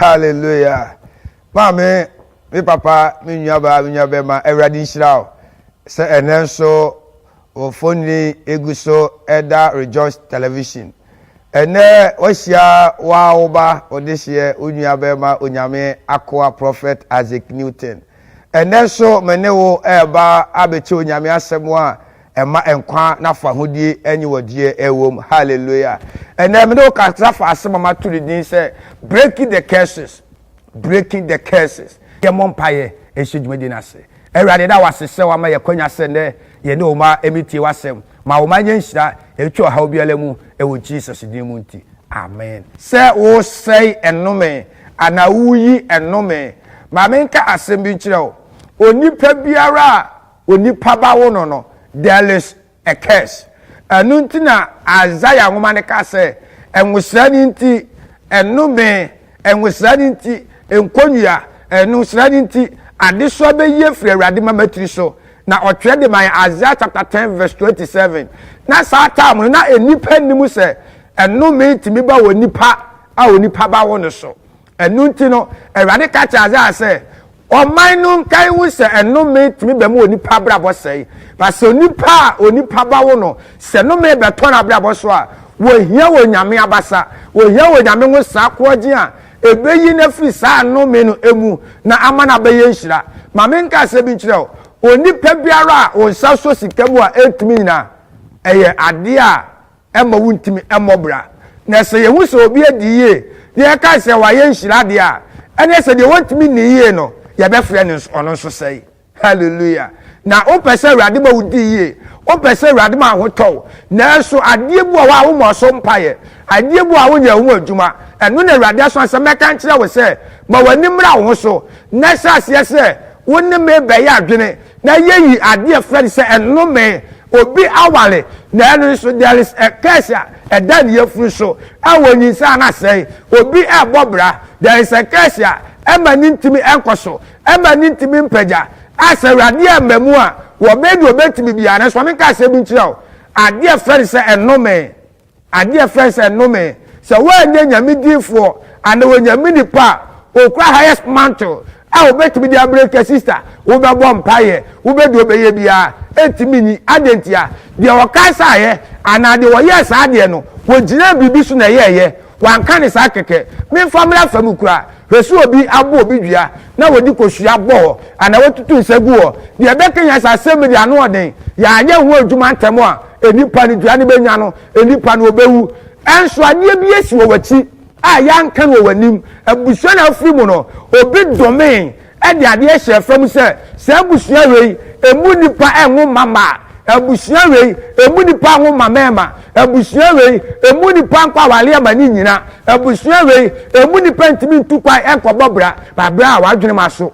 Hallelujah Maame me papa me nuabaa me nuabɛma awurade nhyira wo sɛ ɛnɛ nso wo fonini egu so ɛda rejoice television ɛnɛ wahyia waa wo ba ɔdehyeɛ wo nuabɛma onyame akoa prophet Isaac Newton ɛnɛ nso me ne wo ɛɛba abɛkyɛ onyame asɛm a ɛma nkwa na fahodie ɛnye wɔdeɛ ɛwom hallelujah ɛnɛ mene wo kasa fa asɛm a mato ne din sɛ breaking the curses breaking the curses yɛmmɔ mpaeɛ ɛhyɛ dwumadi no ase awurade da wase sɛ wama yɛkwanya sɛ nnɛ yɛne wo ma ɛmetie w'asɛm ma wo ma nyɛ nhyira ɛtwa ɔhaw biara mu ɛwɔ jesus din mu nti amen sɛ wosɛe ɛnome anaa woyi ɛnome ma menka asɛm bi nkyerɛ wo onipa biara a Onipa ba wo no no, there is a curse. Ɛno nti na Isaiah nwoma no ka sɛ, Nwosra no nti, nnome, nwosra no nti, nkonnua, nwosra no nti, adesoa bɛyi afiri Awurade mama tiri so. Na ɔtwerɛ de ma yɛn Isaiah chapter ten verse twenty seven. Na saa time no na nnipa nnim sɛ nnome tumi ba wɔ nipa a onipa ba wo no so. Ɛno nti no, Awurade ka kyerɛɛ Isaiah sɛ, Ɔman no nka nhu sɛ ɛnome tumi ba mu wɔ nnipa abrabɔ sɛe. Na sɛ onipa a onipa ba wo no, sɛ nome bɛtɔ n'abrabɔ so a, wɔhia wɔ Onyame abasa, wɔhia wɔ Onyame ho saa koɔgyen a ɛbɛyi no afiri saa nome no mu na ama no abɛyɛ nhyira. Ma me nka asɛm bi nkyerɛ wo, onipa biara a wo nsa sɔ sika mu a ɛntumi nyina, ɛyɛ adeɛ a ɛmma wontumi mmɔ bra. Na sɛ yɛhu sɛ obi adi yie na yɛkae sɛ wayɛ nhyira deɛ a, ɛneɛ sɛ deɛ wɔntumi nnii yie no, yɛbɛfrɛ no nso, ɔno nso sɛe. Hallelujah! Na wopɛ sɛ Awurade ma wodi yie, wopɛ sɛ Awurade ma ho tɔ wo, nanso adeɛ bi wɔ hɔ a wommɔ so mpaeɛ, adeɛ bi wɔ hɔ a wonyɛ ho adwuma, ɛno na Awurade asoma sɛ mɛka nkyerɛ wo sɛ, ma w'ani mmra wo ho so, na hyɛ aseɛ sɛ wo ne me bɛyɛ adwene. Na yeyi ade a ɛfrɛ no sɛ nnome, obi aware, na ɛno nso there is a curse a ɛda ne yafunu so a onyinsɛn a na asɛe, obi rebɔ bra, there is a curse a ɛma no ntumi nkɔ so, ɛma no ntumi mpagya, a sɛ Awurade amma mu a, wɔbɛyɛ deɛ wɔbɛtumi biara, nanso ma menka asɛm bi nkyerɛ wo, ade a ɛfrɛ no sɛ nnome. Adeɛ a ɛfrɛ sɛ nnome, sɛ woanyɛ Nyame difoɔ anaa Onyame nipa a okura highest mantle a wobɛtumi de abrɛ ka sister, wobɛbɔ mpaeɛ, wobɛ deɛ wobɛyɛ biara, ɛntumi nyi. Adɛn ntia? Deɛ ɔkasaeɛ anaa deɛ ɔyɛɛ saa adeɛ no, ɔgyinaa biribi so na ɛyɛeɛ, wanka no saa kɛkɛ. Memfa mmra afa mu koraa, hwɛ sɛ obi abɔ obi dua na wɔde kosua bɔ hɔ anaa wɔatutu nsa gu hɔ, deɛ ɛbɛkanyan saa asɛm yi de anoɔden, yɛanyɛ ho adwuma ntɛm a, Nnipa no dua no bɛnya no, nnipa no ɔbɛwu. Nso adeɛ bi asi wɔ w'akyi a yɛanka no wɔ w'anim. Abusua na wofiri mu no, obi domee de adeɛ hyɛɛ fam sɛ, saa abusua wei, ɛmu nnipa nwo mma mma, abusua wei, ɛmu nnipa nwo mmammarima, abusua wei, ɛmu nnipa nkɔ awareɛ ma ne nnyina, abusua wei, ɛmu nnipa ntumi ntu kwan nkɔbɔ bra, ba bra a w'adwenem aso.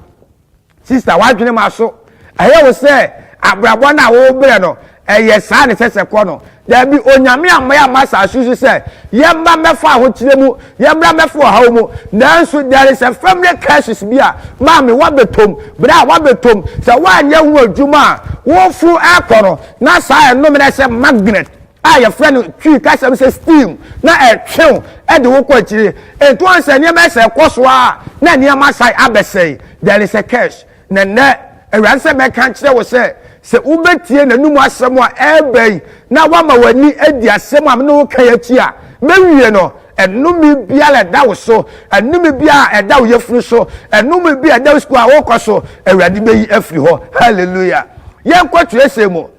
Sista, w'adwene ma so. Ɛyɛ wo sɛ abrabɔ no a wobrɛ no, ɛyɛ saa na ɛsɛ sɛ kɔ no. Dabi, Onyame amma yɛamma asase so sɛ yɛmma mmɛfa ahokyerɛ mu, yɛmmra mmɛfa ɔhaw mu. Nanso, there is a family curses bi a maame wabɛtom, bra a wabɛtom. Sɛ woanyɛ ho adwuma a, woforo ɛkɔ no, na saa ɛnome no ayɛ sɛ magnet. a yɛfrɛ no twi kasa mu sɛ steam na ɛtwew de wo kɔ akyiri nti wɔn sɛ nneɛma sɛ ɛkɔ so a na nneɛma san abɛsɛe there is a curse na nnɛ awurade sɛ mɛka kyerɛ wo sɛ sɛ wobɛtie n'anum asɛm a ɛreba yi na wama w'ani adi asɛm a mene wo ka akyi a mɛwie no ɛnome biara ɛda wo so ɛnome biara ɛda wo yɛfunu so ɛnome bi ɛda wo sukuu a wokɔ so awurade bɛyi afiri hɔ hallelujah yɛnkɔ twerɛsɛm mu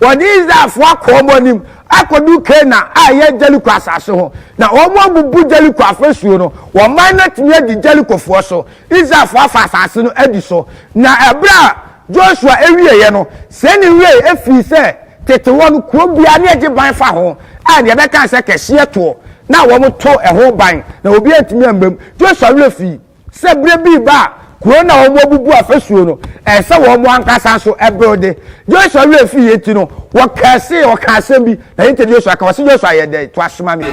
Wɔde Israelfo akɔ wɔn anim akodu Kanaan a ɛyɛ Jeriko asase ho, na wɔabubu Jeriko afasuo no. Wɔn mman no atumi adi Jerikofoɔ so. Israelfo afa asase no adi so. Na ɛberɛ a Josua wieeɛ no, sei na ɛwiee, ɛfiri sɛ tete hɔ no, kuro biara na ɛgye ban fa ho a deɛ ɛbɛka ne sɛ kɛseɛ toɔ, na wɔto ɛho ban, na obiara ntumi mma mu. Josua werɛ fii. Sɛ bere bi reba a kurow no a wɔabubu afasuo no, ɛsɛ sɛ wɔn ankasa nso build. Joshua werɛ fii yei nti no, wɔkɛsee, wɔka asɛm bi, na yei nti Joshua ka, ɔse Joshua yɛ dɛn? Toa so ma me.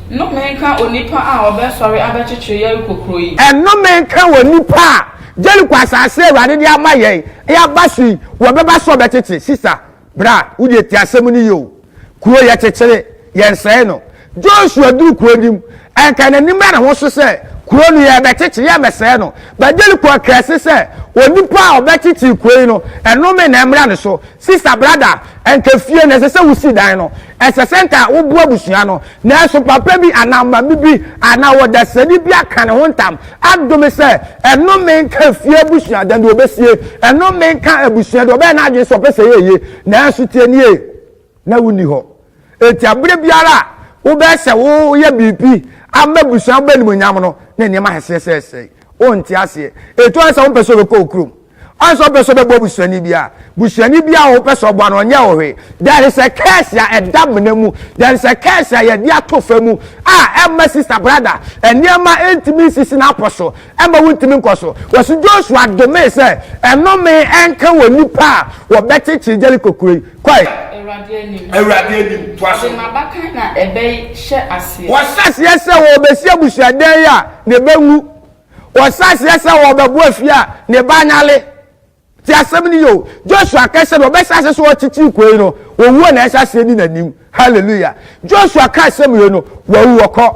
Nnome nka onipa a ɔbɛsɔre abɛkyekyere Yeriko kuro yi. Nnome nka onipa a Yeriko asase a Awurade de ama yɛn, yɛaba so yi, wɔbɛba so ɔbɛkyekye. Sister, Bra, wode te asɛm no yie o. Kuro yɛkyekyere, yɛnsɛe no. Joshua duru kuro no mu. Anka n'anim da ne ho so sɛ, Kuro no yɛrebɛkyekyere, yɛremmɛsɛe no. But Jericho kaa ase sɛ, Onipa a ɔbɛkyekyere kuro yi no, nnome na ɛmmra ne so. Sista, brada, anka fie no, ɛsɛ sɛ wosi dan no. Ɛsɛ sɛ nka woboa abusua no, nanso papa bi anaa maame bi anaa ɔdasani bi aka ne ho ntam adome sɛ, Ɛnome nka efie abusua, dɛn de obesie? Ɛnome nka abusua de, ɔbɛyɛ n'adwene sɛ ɔpɛ sɛ ɛyɛ eye. Nanso tie nie, na wunni hɔ. Enti bere biara a wobɛyɛ sɛ woyɛ biribi ama abusua bɛnimonyam no, na nneɛma ahyehyɛ sɛesɛe. Wonte aseɛ. Etu ara sɛ wompɛ sɛ wobɛkɔ wo kurom. Ɔyɛ sɛ ɔpɛ sɛ ɔbɛboa busuani bi a, busuani bi a ɔpɛ sɛ ɔboa no ɔnyɛ wo hwee. There is a curse a ɛda mena mu. There is a curse a yɛde ato fa mu a ɛma sista brada nneɛma ntumi nsisi n'apɔ so, ɛma wontumi nkɔ so. Wɔsi Joshua domee sɛ ɛnome ɛnka wɔ nipa a wɔbɛkyekyere Jericho kuro yi. Kɔe. Awurade anim. Awurade anim. Toa so. Ɔde n'abakan na ɛbɛhyɛ aseɛ. Wɔhyɛ aseɛ sɛ wɔbɛsi abusuadan yi a, na ɛbɛwu. Wɔhyɛ aseɛ sɛ wɔbɛbo afie a ne ba anyale. Te asɛm no yio. Joshua ka sɛ na ɔbɛhyɛ aseɛ sɛ ɔtete koi no, owuo na ɛhyɛ aseɛ di n'anim. Hallelujah. Joshua ka asɛm yei no, wawu wɔkɔ.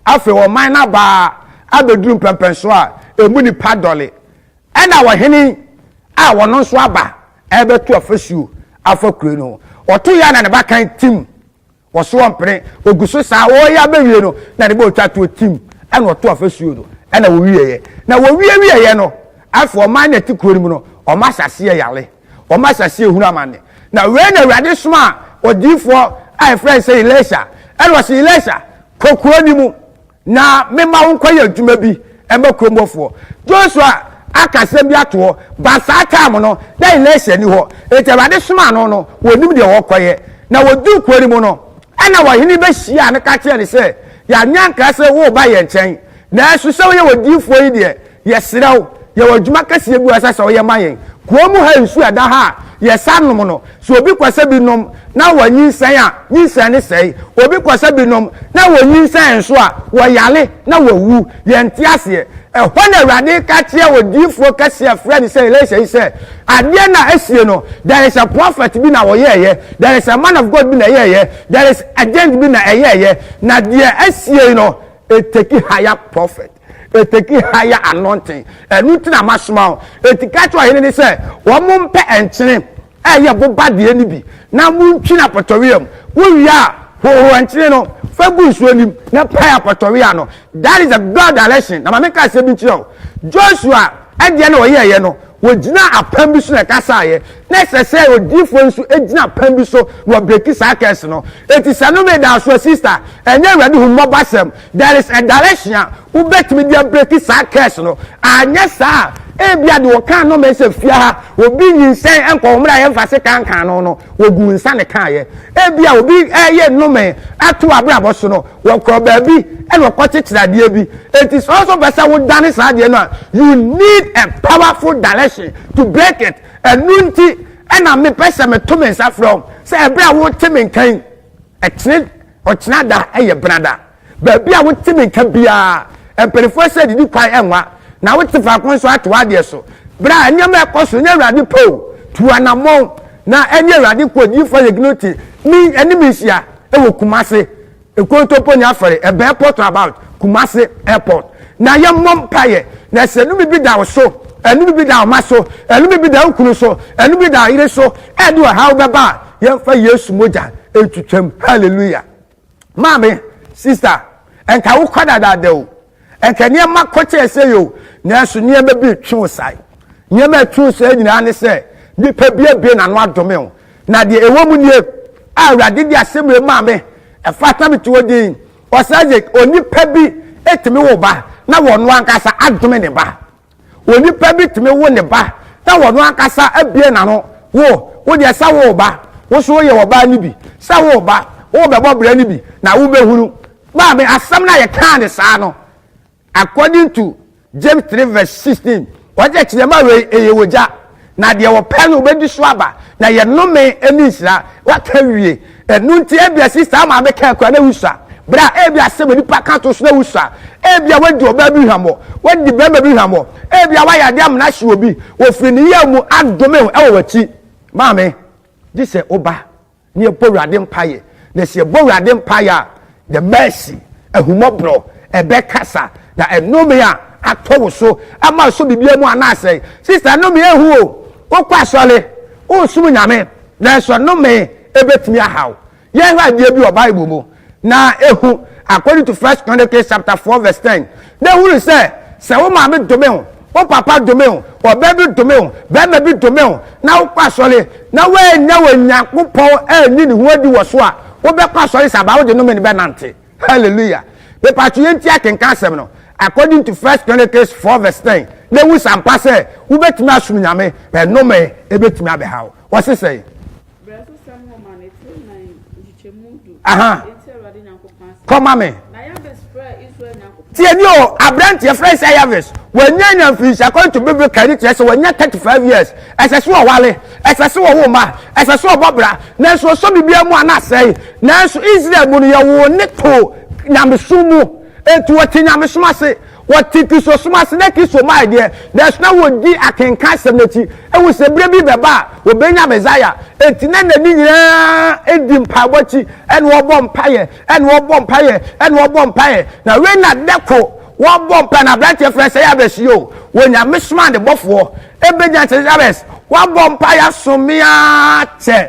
Afei ɔman no abaa abɛduru mpɛmpɛnsoɔ a ɛmu nipa dɔle. Ɛna ɔhene a ɔno nso aba ɛbɛto afasuo afa kuro no ho. Ɔto yɛ na ne ba kan tim Wɔsoɔ mpene, wɔgu so saa, wɔreyɛ abɛwie no, na ne ba ɔtwa toɔ tim, ɛna ɔto afasuo no, ɛna wɔwieeɛ. Na wɔwiewieeɛ no, afei wɔma na ɛte kuro no mu no, wɔma asaseɛ yare, wɔma asaseɛ hunu amane. Na wei na Awurade somaa odiyifoɔ a yɛfrɛ no sɛ Elisha, ɛna ɔse, Elisha, kɔ kuro no mu. Na mema wo nkɔyɛ adwuma bi ma kurom hɔfoɔ. Joshua aka asɛm bi ato hɔ, but saa time no, na Elisha nni hɔ. Enti Awurade somaa no no, wɔnnim deɛ wɔrekɔyɛ. Na wɔduu kuro no mu no, ɛna ɔhene bɛhyiaa no ka kyerɛɛ no sɛ, Yɛanyɛ ankra sɛ woreba yɛn nkyɛn, nanso sɛ woyɛ odiyifoɔ yi deɛ, Yɛsrɛ wo, yɛwɔ adwuma kɛseɛ bi a ɛsɛ sɛ woyɛ ma yɛn. Kuro mu ha nsuo a ɛda ha a yɛsa nom no, sɛ obi kɔ sɛ bi nom na wanyinsɛn a, nyinsɛn no sɛe. Obi kɔ sɛ bi nom na wɔnyinsɛn nso a, wɔyare na wɔwu. Yɛnte aseɛ. Ɛhɔ na Awurade reka kyerɛ odiyifoɔ kɛseɛ a wɔfrɛ no sɛ Elisha yi sɛ, Adeɛ no a asie no, there is a prophet bi na ɔyɛeɛ, there is a man of God bi na ɛyɛeɛ, there is agent bi na ɛyɛeɛ, na deɛ asie no, it take higher prophet. Ɛtaki higher anointing. Ɛno nti na masoma wo. Enti ka kyerɛ ɔhene no sɛ, wɔmpɛ nkyene a ɛyɛ boba deɛ no bi, na montwi no apɔtɔwea mu. Wowie a, hohoro nkyene no fa gu nsuo no mu, na pae apɔtɔwea no. That is a God direction. Na ma menka asɛm bi nkyerɛ wo. Joshua deɛ na ɔyɛeɛ no, wɔgyinaa apam bi so na ɛkasaeɛ. Na ɛsɛ sɛ odiyifoɔ nso gyina apam bi so na wabreki saa curse no. Enti sɛ nnome da wo so a, sista, ɛnyɛ Awurade hummɔbɔ asɛm. There is a direction a wobɛtumi de abreki saa curse no, anyɛ saa a, ebia de wɔka ano ma sɛ fia ha, obi nyinsɛn nkɔ wɔn a yɛmfa se kankan no no, wɔgu nsa ne kaayɛ. Ebia obi ɛyɛ nnome ato abrabɔ so no, wɔkɔ baabi ɛna wɔkɔ kyekyere adeɛ bi. Eti sɛ ɔso pɛ sɛ wodane saa adeɛ no a, you need a powerful direction to break it. Ɛnu nti ɛna mepɛ sɛ meto me nsa frɛ wɔn sɛ ɛberɛ a wote me nkan ɛtene Ɔkyena da yɛ benada. Baabi a wote me nka biara, mpanimfoɔ sɛ didi kwan nwa, na wote faako nso a, to w'adeɛ so. Berɛ a nneɛma a ɛkɔ so nyɛ Awurade pɛ o, tu anammɔn na ɛne Awurade nkoa odiyifoɔ Ayɛ Gnoti me ne me nhyia wɔ Kumasi Nkontompo ne Afɛre ɛbɛn airport about Kumasi airport na yɛmmɔ mpaeɛ na sɛ ɛnome bi da wo so ɛnome bi da wo ma so ɛnome bi da wo kunu so ɛnome bi da wo yere so ɛde ɔhaw bɛba a yɛmfa yesu mogya ntwitwam hallelujah maame sister ɛnka wo kɔ dadaada o ɛnka nneɛma kɔ kyɛɛ sɛ yɛ o nanso nneɛma bi twe wo sae nneɛma a ɛtwe wo sae nyinaa ne sɛ nipa bi abie n'ano adome o na deɛ ɛwɔ mu nie a awurade de asɛm wei maa me ɛfa tam te hɔ din ɔsɛ sɛ onipa bi ɛtumi wo ba na wɔn ankasa adome ne ba Onipa bi tumi wo ne ba na ɔno ankasa abue n'ano, Wo, wo deɛ sɛ wo reba, wo nso woyɛ ɔbaa no bi, sɛ wo reba, worebɛbɔ bra no bi na wobɛhunu. Maame, asɛm no a yɛkaa ne saa no, according to James three verse sixteen, ɔkyerɛkyerɛ ma wei, ɛyɛ ogya. na deɛ ɔpɛ no ɔbɛdi so aba na yɛ nnome ne nhyira waka wie ɛno nti ebia sista ama abɛka akura na wusua berɛ a ebi asɛm nipa ka to so na wusua ebi a wadi ɔbaa bi hwammɔ wadi bɛrima bi hwammɔ ebi a wayɛ adeɛ amena hye obi wɔfiri ne yɛ mu adome ho ɛwɔ w'akyi maame gye sɛ woba na yɛbɔ awurade mpaeɛ na sɛ yɛbɔ awurade mpaeɛ a the mercy ahumɔborɔ ɛbɛkasa na ɛnome a atɔ wo so ama ɛsɔ biribiara mu anaasɛ sista nome ɛhu o wokɔ asɔre wosom nyame nanso nome ɛbɛtumi ahaw yɛhwɛ adeɛ bi wɔ bible mu na ehu according to first chronicles chapter four verse ten na ehunu sɛ sɛ wo maame dome wo wo papa dome wo ɔbaa bi dome wo bɛrima bi dome wo na wokɔ asɔre na woannya wɔ nyankopɔn anni ne ho adi wɔ so a wobɛkɔ asɔre sɛ abaa wode nome no bɛnante hallelujah mepatwe yɛnti akenka asɛm no according to first chronicles four verse ten na ehu sampa sɛ wobɛtumi asom nyame bɛnome ebɛtumi abɛhaw wɔse sɛe Kɔma me. Tiɛni o aberanteɛ fɛn sɛ yavis wɔnyɛ nya mfinhyia kɔn to bebe kari kyerɛ sɛ wɔnyɛ thirty five years ɛsɛ so ɔwale ɛsɛ so ɔwɔ ma ɛsɛ so ɔbɔ bra nanso ɔsɔ bibi mu ana asɛe nanso israel mu no yɛ wɔn ne to nyamesu mu. Enti wɔte nyamesom ase, wɔte Kristosom ase, na Kristo mae deɛ, nanso na wɔdi akenkan asɛm no akyi, ahu sɛ berɛ bi bɛba a wɔbɛnya Mesaia. Enti na nna no nyinaa di mpaebɔ akyi, ɛna wɔbɔ mpaeɛ, ɛna wɔbɔ mpaeɛ, ɛna wɔbɔ mpaeɛ. Na wei na da koro wɔbɔ mpaeɛ na aberanteɛ frɛ sɛ Yabes yi o, wɔ nyamesom a ne bɔfoɔ bɛgya sɛ Yabes, woabɔ mpaeɛ asom me ara kyɛ,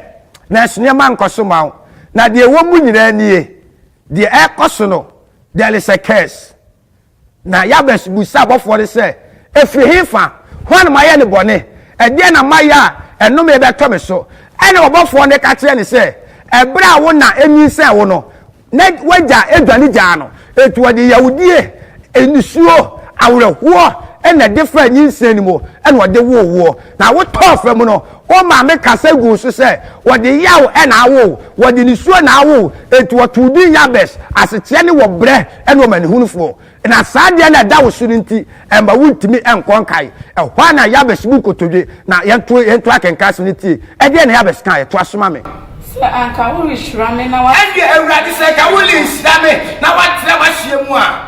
nanso nneɛma nkɔ so ma wo, na deɛ ɛwɔ mu nyinaa nie. Deɛ ɛrekɔ so no, there is a curse. Na Yabes bisaa abɔfoɔ no sɛ, Ɛfiri hefa? Hwan na mayɛ no bɔne? Ɛdeɛn na mayɛ a ɛnome rebɛtɔ me so? Ɛnna ɔbɔfoɔ no ka kyerɛɛ no sɛ, Ɛberɛ a wo na nyinsɛn wo no, na w'agya dwane gyaa no. Enti ɔde yahodie, nisuo, awerɛhoɔ na ɛde faa nyinsɛn no mu na ɔde woo woɔ, na wotɔɔ fam no, Wo maame kasa guu so sɛ, Wɔde yaw na awo wo, wɔde nisuo na awo wo, enti wɔtoo din Yabes, asekyerɛ ne Wɔbrɛ ne Ɔmanehunufoɔ. Na saa adeɛ no a ɛda wo so no nti, ɛmma wontumi nkɔ nkae. Ɛhɔ ara na Yabes bu nkotodwe. Na yɛnto yɛnto akenkan asɛm no ntie. Ɛdeɛn na Yabes kaeɛ? Toa so ma me. Sɛ anka worehyira me na woatrɛ. Ɛnneɛ Awurade, sɛ anka worenhyira me na woatrɛ w'ahyeɛ mu a.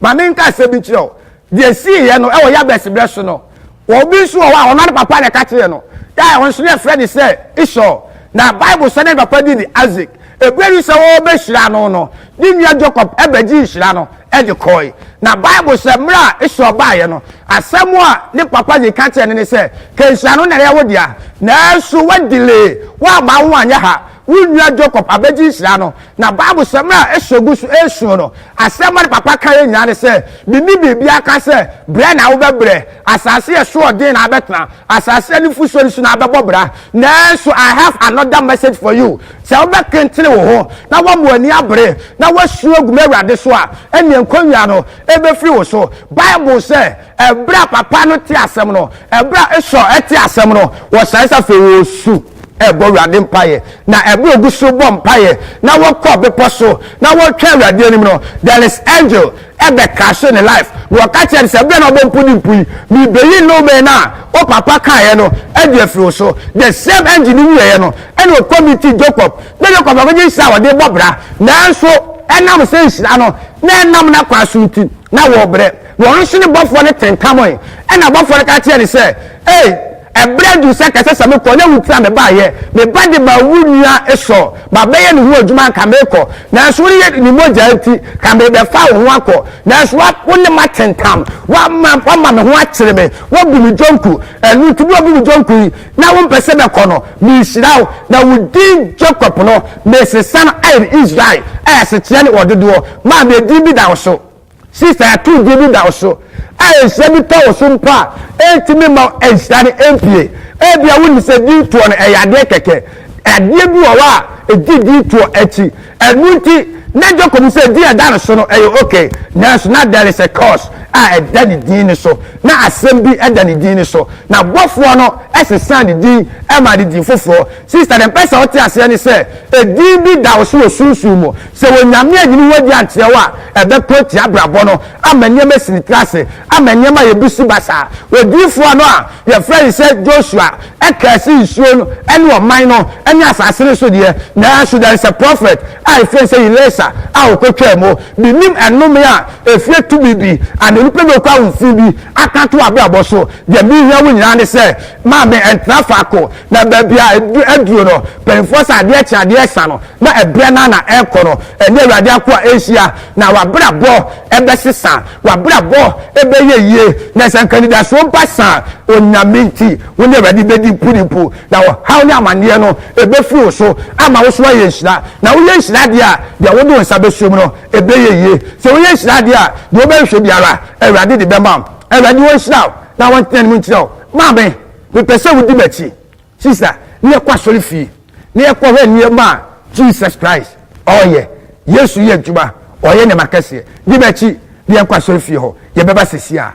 ma me nka asɛm bi nkyerɛ wo deɛ siiɛ no ɛwɔ yabɛs berɛ so no obi nso wɔ hɔ a ɔno ne papa na ɛka kyerɛ no yɛ ɔno nso ne ɛfrɛ ne sɛ isɔ na bible sɛ ne papa di ne isaac ɛberɛ bi sɛ wɔbɛhyira no no ne nua jacob ɛbɛgye nhyira no ɛde kɔe na bible sɛ mmerɛ a isɔ baeɛ no asɛm a ne papa de ka kyerɛ ne ne sɛ kɛnhyira no na ɛyɛ wo dea nanso wadile woama wo anyɛ ha Wo nua Jacob abɛgye nhyira no, na Biblesɛm a ɛhyɛ gu so resuo no, asɛm a ne papa kaeɛ nyinaa ne sɛ, Menni biribi aka sɛ brɛ na wobɛbrɛ, asase a ɛso yɛ den na abɛtena, asase a nufosuo nni so na abɛbɔ bra. Nanso I have another message for you, Sɛ wobɛkentene wo ho, na woama w'ani abere, na woasu agu m'Awurade so a, ɛnneɛ nkɔnwia no bɛfiri wo so. Bible sɛ. Ɛberɛ a papa no tee asɛm no, ɛberɛ a Esau tee asɛm no, wɔsan sɛ afei wɔresu rebɔ Awurade mpaeɛ. Na ɛberɛ a wɔgu so rebɔ mpaeɛ na wɔkɔ bepɔ so na wɔretwɛn Awurade anim no, there is angel ɛbɛ crashe ne life, na wɔka kyerɛ no sɛ, ɛberɛ a na wobɔ mpo ne mpo yi, merebɛyi nnome no a wo papa kaeɛ no adi afiri wo so. The same angel no wieeɛ no, ɛna ɔkɔ meeting Jacob, na Jacob akɔgye nhyira a wɔde rebɔ bra, nanso ɛnam sɛ nhyira no na ɛnam n'akwan so nti, na wɔrebrɛ. Wɔn so no bɔfoɔ no tentamɔe. Ɛnna ɔbɔfoɔ no ka kyerɛɛ no sɛ, Ei, ɛberɛ aduru sɛ kɛsɛ sɛ mekɔ, na wo nti na mebaeɛ. Me ba de maa wo nua Esau. Mabɛyɛ ne ho adwuma anka merekɔ, nanso wo yere de ne mogya nti, ka merebɛfa wo ho akɔ. Nanso wa, wo ne m'atentam. Woama, woama me ho akyere me. Woabu me dwonku. Ɛno nti, berɛ a woabu me dwonku yi, na wompɛ sɛ mɛkɔ no, merehyira wo, na wo din Jakob no, mesesa no ayɛ Israel, a asekyerɛ ne Ɔdodoɔ, ma me din bi da wo so. Sista atorodi no da wo so, a nhyira bi tɔ wo so mpo a, entumi mma nhyira no mpue. Ebia wunim sɛ dwontoɔ no yɛ adeɛ kɛkɛ, adeɛ bi wɔ hɔ a egye dwontoɔ akyi. Ɛno nti, na Jacob hu sɛ din a ɛda no so no yɛ ok, nanso na there is a curse a ɛda ne din no so. Na asɛm bi da ne din no so, na bɔfoɔ no sesaa ne din maa no din foforɔ. Sister deɛ mpɛ sɛ ɔte aseɛ ne sɛ ɛdin bi da wo so wɔ sunsum mu. Sɛ wɔ Nyame anyi ne ho adi ankyerɛ wo a, ɛbɛko atia abrabɔ no ama nneɛma asini tra ase, ama nneɛma ayɛ busi basaa. Odiyifoɔ no a yɛfrɛ ne sɛ Joshua ɛkaa si nsuo no ne ɔman no ne asase no so deɛ, nanso there is a prophet a yɛfrɛ no sɛ Elisa a ɔkɔtwaa mu. Menim ɛnome a ɛfiri tumi bi anaa nipa bi a ɔkura ahofi bi aka ato w'abrabɔ so. Deɛ mehia wo nyinaa ne sɛ Maa me ntra faako na baabi a aduro no mpanyinfoɔ sɛ adeɛ kye adeɛ ɛsa no na ɛbrɛ no ana ɛkɔ no ɛne awurade akoa ɛnhyia na wabrabɔ ɛbɛsesa wabrabɔ ɛbɛyɛ yie na sɛ nka anidasoɔ ba sa onyame nti wo ne awurade bɛdi mpu ne mpu na ɔhaw ne amaneɛ no ɛbɛfiri wo so ama wo so ayɛ nhyira na woyɛ nhyira adeɛ a deɛ wode wo nsa bɛsuo mu no ɛbɛyɛ yie sɛ woyɛ nhyira adeɛ a deɛ wobɛhwehwɛ biara awurade de bɛma awurade wɔnhyira na wɔntena ne mu nkyerɛ wo Maame, mepɛ sɛ wodi m'akyi. Sista, na yɛkɔ asɔrefie, na yɛkɔhwɛ nneɛma a Jesus Christ ɔreyɛ. Yesu reyɛ adwuma, ɔreyɛ nneɛma akɛseɛ. Di m'akyi na yɛnkɔ asɔrefie hɔ. Yɛbɛba seeseiara.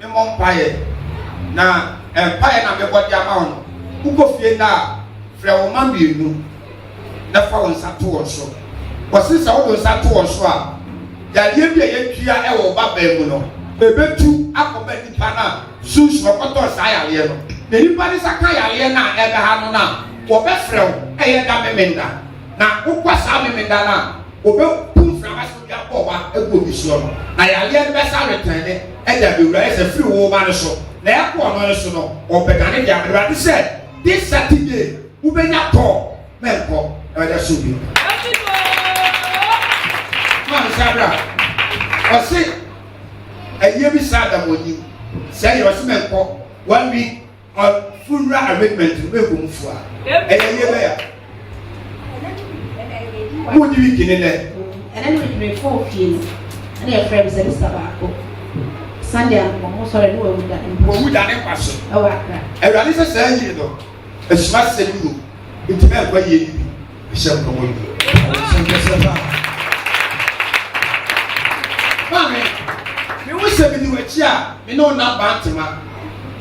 memmɔ mpaeɛ, na mpaeɛ na mebɔ de ama wo no, wokɔ fie nnɛ a, frɛ wo mma mmienu na fa wo nsa to wɔn so. Wɔse sɛ wode wo nsa to wɔn so a, yadeɛ bi a yɛadua wɔ wo ba bɛn mu no, ɛbɛtu akɔba nipa no a sunsun ɔkɔtɔɔ saa yareɛ no. Na nipa no nsa ka yareɛ no a ɛda ha no no a, wɔbɛfrɛ wo ɛyɛ da Memenda, na wokɔ saa Memenda no a, wɔbɛbu mframa so de abɔ wa agu obi soɔ no, na yareɛ no bɛsa retɛn ne ɛde abɛwura ayɛ sɛ firi wo ba no so, na ɛkɔ ɔno no so no, ɔbɛdane de ama Awurade sɛ, This Saturday, wobɛnya tɔɔ, mɛnkɔ, na wɔde ahyɛ obi. Ma nsa bra. Ɔse, ɛyɛ bi saa da mɔnim, sɛ yɛ ɔse mɛnkɔ, one week, Ɔ fo wura amendment no bɛ bom fo a ɛyɛ yie bɛ ya. Mo di wiki ne nɛ. Ɛnɛ no medwene fo fie no ɛna yɛfrɛ me sɛ mesa baako Sunday anko mo sɔre ne wawu da ne wawu da ne nkwa so ɛwɔ akra. Awurade sɛ saa yie no asuma sɛ ne mu nti bɛ nkwa yie yi bi hyɛm no wɔ yi. Ɔhyɛm kɛseɛ paa. Maame, me wo sɛ medi w'akyi a me ne wo nam bantema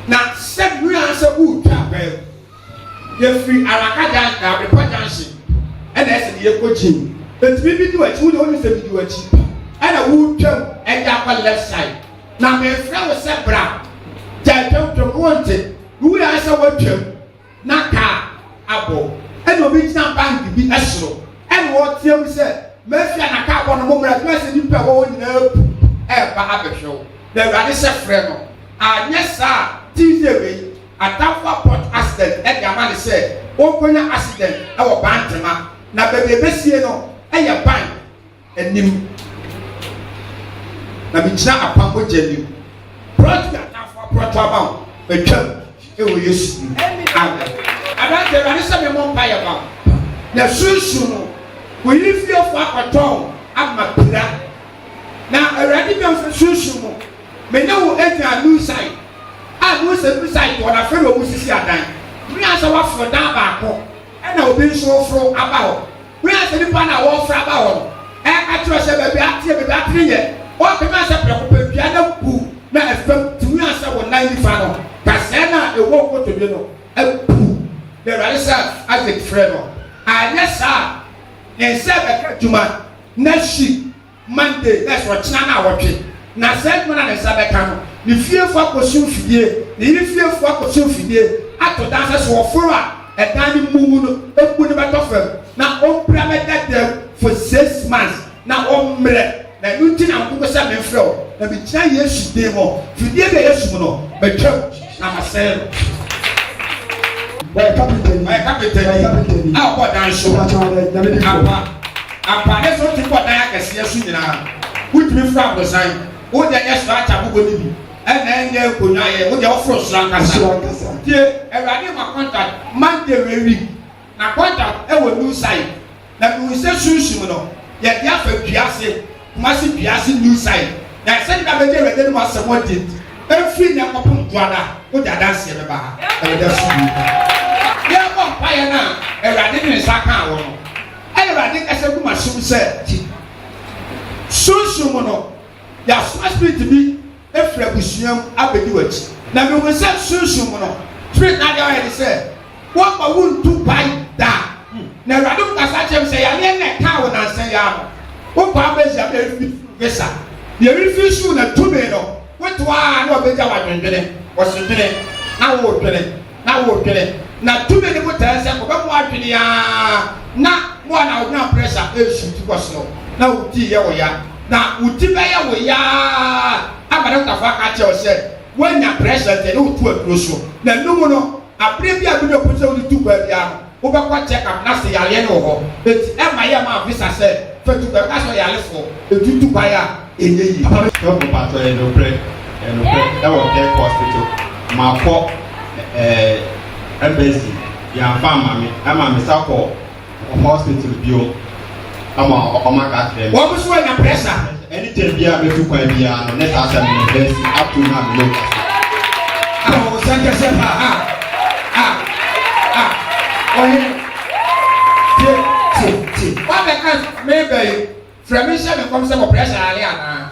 na sɛ nua sɛ wotwa abɛɛ yɛfiri araka gyan abepa gyanhye ɛna ɛsɛ ne yɛkɔ gyim ɛtumi bi di w'akyi wo de wone sɛ medi w'akyi ɛna wotwam ɛde akɔ left side na mefrɛ wo sɛ bra gya atwamtwam wonte wowura sɛ woatwam na kaa abɔ. Ɛna obi gyina bank bi soro ɛna ɔretea mu sɛ, Mafia na kaa abɔ no, mommra, ɛbɛyɛ sɛ nnipa a ɛwɔ hɔ nyinaa apu ɛreba abɛhwɛ wo. Na Awurade sɛ frɛ no, anyɛ saa a Tuesday wei atamfo apɔt accident de ama no sɛ ɔnkɔnya accident wɔ Bantama. Na baabi a ɛbɛsie no yɛ bank. anim, na megyina apam mogya anim. Prɔto atamfo aprɔto ama wo, matwam ɛwɔ Yesu mu. Amen. Aberante Awurade sɛ memmɔ mpa yɛ ma wo. Na sunsun no, wo yere fiefo akɔtɔn ama pira. Na Awurade bɛ nfa sunsun mu. Me ne wo anya new site. A new site new site wɔn afɛ na wɔn sisi adan. Mmea sɛ waforo dan baako ɛna obi nso foro aba hɔ. Bere a sɛ nnipa no a wɔrefra aba hɔ no ɛka kyerɛ sɛ baabi ateɛ, baabi atene yɛ, ɔte no a sɛ prɛko pɛ dua no abu na ɛfam tumi a sɛ wo nan nifa no kasɛɛ no a ɛwɔ nkotodwe no abu. Na Awurade sɛ Isaac frɛ no, anyɛ saa a ne nsa bɛka adwuma na hyi. Monday, na ɛsɛ ɔkyena na awɔtwe, na saa adwuma no a ne nsa bɛka no, ne fiefo akɔsi mfidie, ne yere fiefo akɔsi mfidie, ato dan sɛ sɛ ɔforo a, ɛdan no mmu mu no, mmu no bɛtɔ fam, na ɔmpira me dadaw for six months, na ɔmmerɛ. Na ɛno nti na wokoko sɛ memfrɛ wo, na megyina Yesu din mu, fidie bi a ɛyɛ sum no, matwam. Na masɛe no. Ɔyɛ kapentani. Ɔyɛ kapentani. Ɔyɛ kapentani. A ɔkɔ dan so. Mpatsɔ ɔdɛ nyame di kɔ. Apa apa ne sɛ ɔtumi kɔ dan akɛseɛ so nyinaa. Wotumi foro abosan. Wo deɛ nyɛ soro akyɛ abobɔ no bi. Ɛna ɛnyɛ nkonnwa yɛ. Wo deɛ woforo soro ankasa. Soro ankasa. Tie awurade ma contact Monday wei week. Na kwadam wɔ New Side na mehuu sɛ sunsum no yɛde afa dua ase, Kumasi dua ase New Side, na sɛde na bɛgye Awurade anom asɛm adi nti, ɛmfiri nnɛ kɔpem dwoada wode adanseɛ bɛba ha, Awurade asomdwie nka wo. Yɛrebɔ mpaeɛ no a, Awurade de ne nsa kaa wɔn, ɛna Awurade kasa gu m'asom sɛ, Ti, sunsum no, yɛasoma spirit bi, firi abusua mu abɛdi w'akyi. Na mehunu sɛ sunsum mu no firi nna deɛ ɔyɛ ne sɛ wɔmma wo ntu pae da. Na Awurade mu kasa kyerɛ me sɛ yareɛ na ɛkaa wo nansa yi ara no wopaa bɛhyia me ɛrefi visa deɛ ɛrefi suu na tumi no wotoa a na ɔbɛgya wadwendwene wɔsedwene na wodwene na woredwene, na tumi no botaeɛ sɛ kɔbɛ mo adwene aa na mo a na wo na pressure ɛresuuti kɔ soro na wo ti yɛ wo ya, na wo ti bɛyɛ wo ya aa ama dɔktafoɔ aka akyerɛ wo sɛ woanya pressure nti ɛne wo to aduro so, na ɛno mu no aberɛ bi a biribi a wopɛ sɛ wode tu baabiara no wobɛkɔ check up na sɛ yareɛ no wɔ hɔ enti ɛmma yɛ mma visa sɛ fa tu kwan, wobɛka sɛ ɔyarefoɔ ɛtu tu kwan a ɛnyɛ yie. Papa me srɛ wo mpakyɛw ɛyɛ nokorɛ ɛyɛ nokorɛ ɛwɔ Kirk hospital makɔ ɛɛ embassy yɛanfa amma me ɛma me sa kɔ hospital biom. ama ɔma ka kyerɛ me. Wɔn nso anya pressure. Anytime bi a mɛtu kwan bi ara no, ne saa asɛm no bɛsi up to now me ne ɔkasa. Awo sɛ kɛsɛ paa ha. A a ɔhene tie tie tie. Wabɛka mebɛyi frɛ me nhyɛ me nkɔm sɛ wɔ pressure ale anaa.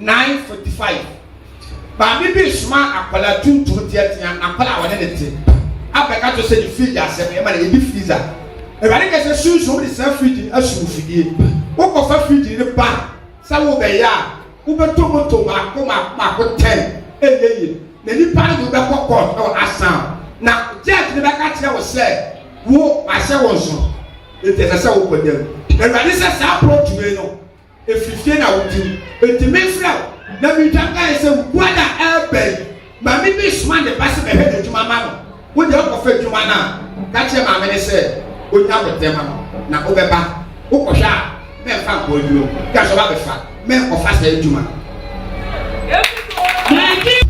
nine forty five maame bi resoma akwadaa tuntum teatea akwadaa a ɔne ne te abɛka to sɛ ne fridge asɛm ɛma na yɛdi freezer awurade kɛ sɛ sunsun wode saa fridge no asum fidie wokɔfa fridge no ba sɛ wobɛyɛ a wobɛtɔ moto maako maako maako tɛn ɛnyɛ yie na nipa no de wobɛkɔ court na wɔasan na judge no bɛka kyerɛ wo sɛ wo ahyɛ wo nso nti ɛsɛ sɛ wokɔ dam awurade sɛ saa approach wei no Efiri fie na wo tew. Enti me frɛ wo na me twa kae sɛ wo brɔda ɛɛba yi, maame bi soma ne ba sɛ bɛhwɛ n'adwuma ma no. Wo deɛ wokɔ fa adwuma no a, ka kyerɛ maame no sɛ ɔnya wo ntɛm ano na wo bɛba. Wo kɔ hwɛ a, mɛ nfa nkɔ aduro mu. Ka sɛ ɔba bɛ fa, mɛ nkɔ fa saa adwuma no.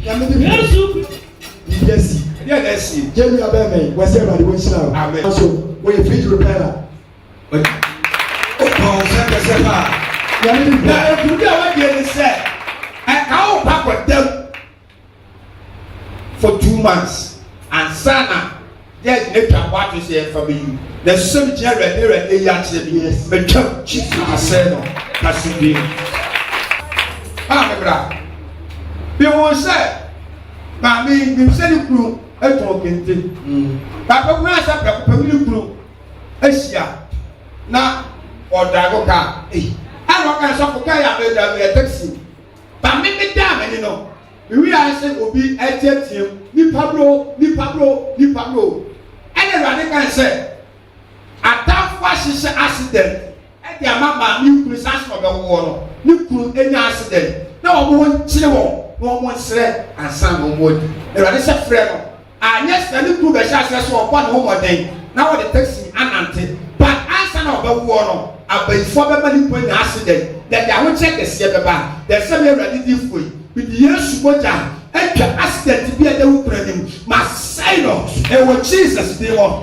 Nyame de biribi asi. Deɛ na asi. Gyɛ nua bɛɛ mɛ, wɔ sɛ ɛwurade wo nhyira o. Amen. Aso, wɔyɛ fridge repairer. Wotɔ wo sɛ kɛsɛ paa. Nyame bi pɛ. Na ɛkudi a wadie ne sɛ ɛka wo kɔ akɔdam for two months ansa na judge ne twa kɔ ato sɛ yɛmfa bɛyi na ɛsɛ sɛ megyina awurade awurade yi akyerɛ bi matwam jesus asɛ no kase bi a mebra mehu sɛ maame nim sɛ ne kunu ɛtɔn kente na bɛkuna sɛ prɛko pɛ me ne kunu ahyia na ɔdrago ka ei ɛna ɔka sɔfo ka yɛ abɛdwa yɛ taxi ba me me daa m'ani no mewia sɛ obi ɛteateam nipa bro nipa bro nipa bro ɛna awurade ka sɛ atamfo ahyehyɛ accident ɛde ama maame nkunu saa sɛ ɔbɛwoɔ no ne kunu ɛnya accident na wɔn ho nkyere wɔn na wɔn nsrɛ ansa na wɔn adi awurade sɛ frɛ no Anyɛ saa ne kunu bɛhyɛ aseɛ sɛ ɔbɔ ne ho mmɔden na ɔde taxi anante. But ansa na ɔbɛwoɔ no, abayifoɔ bɛma ne kunu anya accident na ɛde ahokyerɛ kɛseɛ bɛba. Deɛ ɛsɛ me Awurade difoɔ yi, mede Yesu mogya atwa accident bi a ɛda wo kunu anim, masɛe no wɔ Jesus din mu.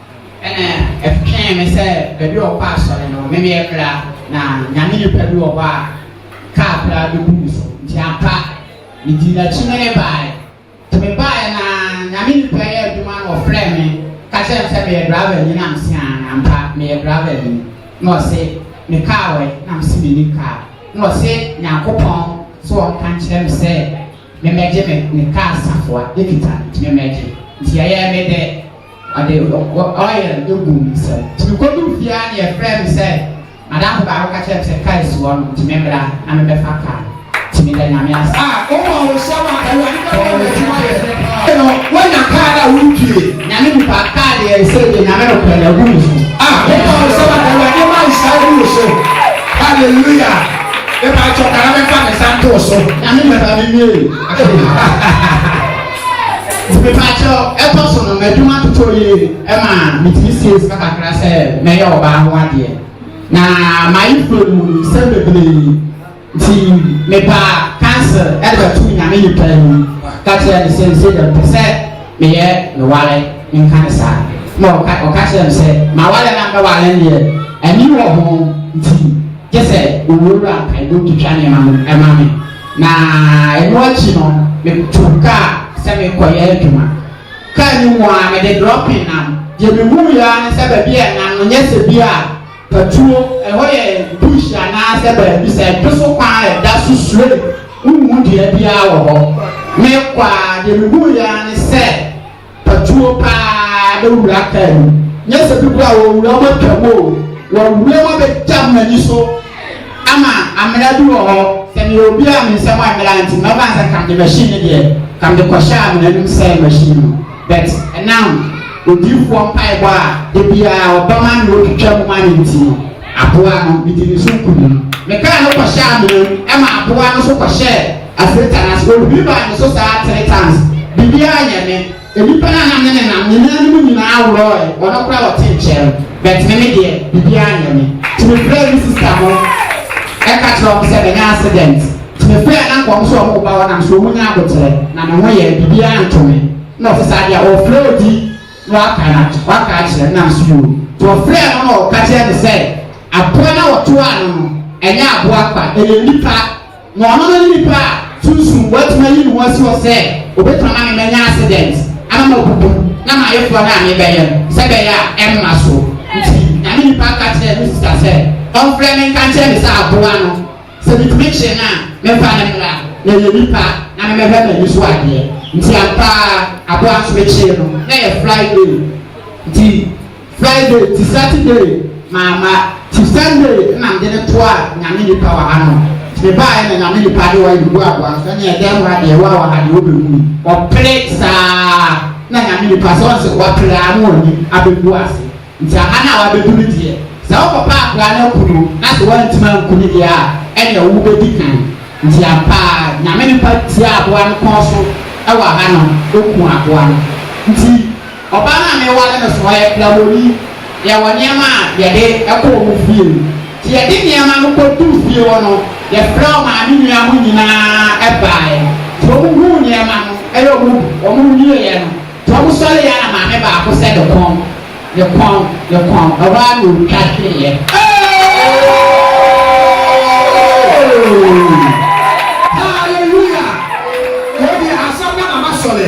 Ɛna ɛtwee me sɛ baabi wɔ hɔ a asɔre no wɔ. Me meyɛ bra, na Nyame nipa bi wɔ hɔ a kaa koraa bɛbu me so. Nti ampa, medii n'akyi me ne baeɛ. Nti me baeɛ no ara, Nyame nipa yi yɛ adwuma na ɔfrɛɛ me ka kyerɛɛ me sɛ meyɛ driver ni, na mese aane, ampa meyɛ driver ni. Na ɔse, me kaa wɔ he? Na mese menni kaa. Na ɔse, Nyankopɔn se wɔnka nkyerɛ me sɛ memmɛgye me kaa safoa, ɛkita me, nti memmɛgye. Nti ɛyɛɛ me dɛ. Ɔde oil no guu me nsam. Nti mekoduu fie ara na yɛfrɛɛ me sɛ m'adamfo baako ka kyerɛɛ me sɛ kaa si hɔ nom nti memmra na mebɛfa kaa no. Nti meda Nyame ase. A, wowɔ ahohyɛm a Awurade bɛma wo adwuma ayɛ fɛ paa. Afei no, woanya kaa no a woretue? Nyame nipa, kaa deɛ ɛsei deɛ Nyame nokorɛ no agu me so. A, wowɔ ahohyɛm a Awurade ma nhyira agu wo so? Hallelujah! Mepakyɛw, ka na memfa me nsa nto wo so. Nyame nipa, memiee. nti mepaakyɛw ɛtɔ so no m'adwuma totɔ yie ɛma metumi sie sika kakra sɛ mɛyɛ ɔbaa ho adeɛ na mayi furo no mu sɛ bebree nti mepa cancer ɛde bɛto nyame yi paa mu ka kyerɛ ne sɛ nsɛ dɛm pɛ sɛ meyɛ mewale nka ne saa na ɔka ɔka kyerɛ me sɛ mawale na mɛwale deɛ ani wɔ ho nti gye sɛ owuo wura mpaebɔ twitwa nneɛma no ɛma me Na ɛno akyi no, metuu kaa sɛ merekɔyɛ adwuma. Kaa no mu ara, mede drɔpee nam. Deɛ mehunuiɛ ara ne sɛ baabi a ɛnam no nyɛ sɛ bi a patuo, ɛhɔ yɛ bush anaasɛ baabi sɛ ɛdwo so kwan a ɛda so straight, wonhu dua biara wɔ hɔ. Merekɔ ara, deɛ mehunuiɛ ara ne sɛ. fatuo paa na wura kaa mu nyɛ sɛ bi kora wɔwura wɔn atwa mu o wɔwura wɔn abɛgya wɔn ani so ama amena bi wɔ hɔ sɛ ne obi a ne nsɛm amena nti na ɔba sɛ kam de machine ne deɛ kam de kɔhyɛ amena no sɛ machine no but ɛnam odiifoɔ mpaebɔ a ebiara ɔbɛma ne otwitwa mu ma ne nti no aboa no ne di ne so nkunim ne kaa no kɔhyɛ amena ɛma aboa no so kɔhyɛ Afei Tanase, ohuri baa ne so saa three times, biribiara nyɛ me, nnipa no a na me ne nam nyinaa no mu nyinaa worɔɔe, ɔno koraa ɔte nkyɛn no, but me me deɛ, biribiara nyɛ me. Nti me frɛɛ me sister no, ɛka kyerɛɛ wɔn sɛ manya accident, nti me frɛɛ na nka wɔn nso wɔn ba wɔnam so wɔn nyɛ aboterɛ, na me ho yɛɛ, biribiara nto me, na ɔte saa deɛ ɔrefrɛ obi na waka no ato, waka akyerɛ no, na me nso yoo, nti ɔfrɛɛ no na ɔka kyerɛɛ me sɛ aboa no a ɔtoaa no no, ɛnyɛ aboa kwa, ɛyɛ nnipa. na ɔno ne nipa a sunsum watumi ayi ne ho asi hɔ sɛ obetumi ama me manya accident ama mabubu na m'ayeforɔ no a mebɛyɛ no sɛ bɛyɛ a ɛmma so nti nyame nipa ka kyerɛ me sista sɛ ɔmfrɛ me nka nkyerɛ me sɛ aboa no sɛ metumi kye no a memfa ne mmra na ɛyɛ nipa na memɛhwɛ m'ani so adeɛ nti ampaa aboa nso mekyee no na yɛ friday nti Friday ti Saturday maa ma ti Sunday nna mede no toa Nyame nipa wɔ ha no. Nti me baaɛ na Nyame nipa de ɔɛ bɛgu aboa no so, ɛne ɛdɛɛ mu ha deɛ ɛwɔ a wɔ ha deɛ wo bɛhu yi. Ɔpere saa na Nyame nipa sɛ ɔn sɛ wapere aa na ɔni abɛgu ase. Nti aha no a wabɛdu no deɛ sɛ wo kɔpɛ akora no aku no na sɛ wantumi anku no deɛ a ɛne ɛwo bɛdi kan. Nti ampa aa Nyame nipa tiaa aboa no kɔn so ɛwɔ ha no, ɔkuu aboa no. Nti. Ɔbaa no a mereware no soa yɛ Plawoni. Yɛwɔ nneɛma a yɛde kɔ wɔn fie. Nti yɛde nneɛma no kɔduu fie hɔ no, yɛfrɛɛ wɔn maame nua no nyinaa baeɛ. Nti wɔhuu nneɛma no na wɔn bi, wɔwieeɛ no, nti wɔsɔreeɛ ara na maame baako sɛ ne kɔn, ne kɔn, ne kɔn, na hɔ ara na ɔtwa hweeɛ. Hallelujah! Wei deɛ asɛm na na masɔre.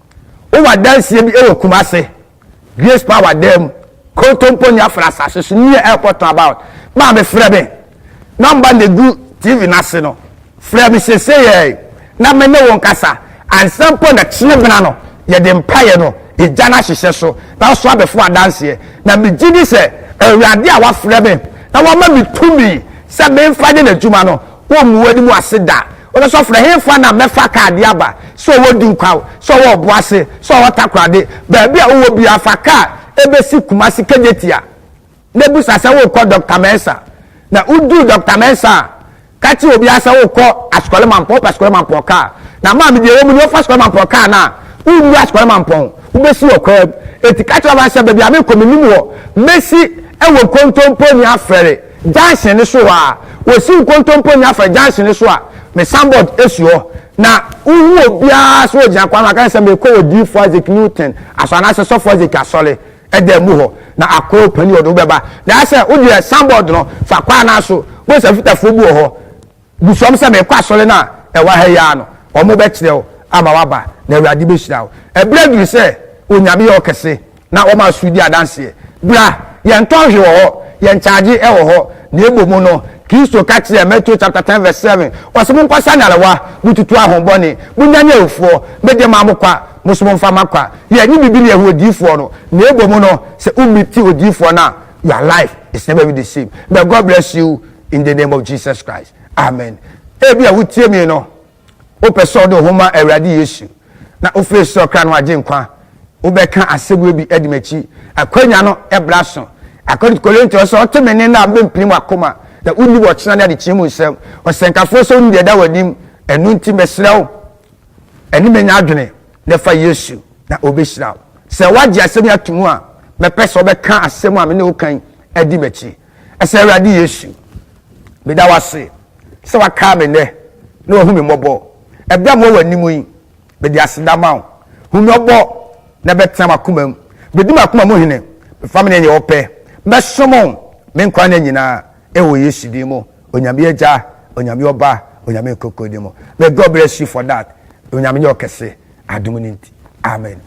Wowɔ adanseɛ bi wɔ Kumase, Grace Power dan mu, Kontompo ne Afra asase so neɛ ɛrekɔ tɔn about maame frɛ me number na egu TV no ase no frɛ me seseyɛɛ na me ne wo nkasa ansa mpo na kyerɛ bena no yɛde mpaeɛ no egya no ahyehyɛ so na woso abɛfo adanseɛ na megye di sɛ Awurade a wafrɛ me na wama me tumi sɛ memfa nyɛ n'adwuma no wɔmmu w'anim ase da Ɔsɛ sɔfo no, Ɛhefa na mɛfa kaa de aba? Sɛ ɔwɔ Dinkwaa o, sɛ ɔwɔ Ɔboase, sɛ ɔwɔ Takorade, baabi a wowɔ biara, fa kaa bɛsi Kumasi Kejetia na bisa sɛ worekɔ Dɔkta Mensah. Na wodu Dɔkta Mensah a, ka kyerɛ obiara sɛ worekɔ Askɔre Mampɔn, wopɛ Askɔre Mampɔn kaa. Na maame, deɛ ɛwɔ mu nie, wofa Askɔre Mampɔn kaa no a, wonnu Askɔre Mampɔn, wobɛsi wɔ kwan mu. Enti ka kyerɛ ɔbaa no sɛ, Baabi a merekɔ, mennim hɔ. Mɛsi wɔ nkontompo ne afɛre. junction no so hɔ a, wɔsi nkontompo nya fa junction no so a, me signboard si hɔ, na wohu obiara sɛ ɔgyina kwan no ho, aka ne sɛ merekɔ Odiyifoɔ Isaac Newton asɔre anaasɛ Sɔfo Isaac asɔre dan mu hɔ, na akoa panin ɔde wobɛba. Na ayɛ sɛ wodeɛ signboard no fa kwan no ara so, wobɛhu sɛ afitafoɔ bi wɔ hɔ, Bisa wɔn sɛ, Merekɔ asɔre no a ɛwɔ ha yi ara no, wɔbɛkyerɛ wo ama woaba, na Awurade bɛhyira wo. Ɛberɛ aduru sɛ Onyame yɛ ɔkɛse na wɔma asuro di adanseɛ. Bra, yɛntɔ hwee wɔ hɔ, yɛnkyagye wɔ hɔ. Na mmom no, Kristo ka kyerɛɛ, Matthew chapter ten verse seven, Ɔse, Monkɔsa nyarewa, motutu ahonbɔne, monyane awufoɔ, mede ma mo kwa, mo nso momfa ma kwa. Yɛnnye biribi ne yɛhu odiyifoɔ no, na mmom no, sɛ wo meet odiyifoɔ no a, your life is never be the same. May God bless you. in the name of jesus christ amen ebi a wotie mi no wopɛ sɛ ɔde ho ma awurade yesu na wofiri sɛ ɔkra no agye nkwa wobɛka asɛm bi adi m'akyi akwanya no ɛbra so akɔde korinto sɛ ɔte me ne no a mbɛmpini mu akoma na wonni wɔkyena ne adekyee mu nsɛm ɔsɛnkafoɔ sɛ wonni deɛ da w'anim ɛno nti mɛsrɛ wo ɛne menya adwene na fa yesu na ɔbɛhyira wo sɛ woagye asɛm yi ato mu a mɛpɛ sɛ wobɛka asɛm a me ne wo kan adi m'akyi Ɛsɛ Awurade Yesu, meda wo ase sɛ wakae me nnɛ na wahu me mmɔbɔ. Ɛberɛ a mewɔ w'anim yi, mede aseda ma wo. Hu me ɔbɔ na bɛtena m'akoma mu. Bɛdi m'akoma mu hene, mfa me nyɛ deɛ wopɛ. Mɛsom wo me nkwa nna nyinaa wɔ Yesu din mu, Onyame Agya, Onyame Ɔba, Onyame Nkonkron din mu. May God bless you for that. Onyame nyɛ wo kɛse adom no nti. Amen.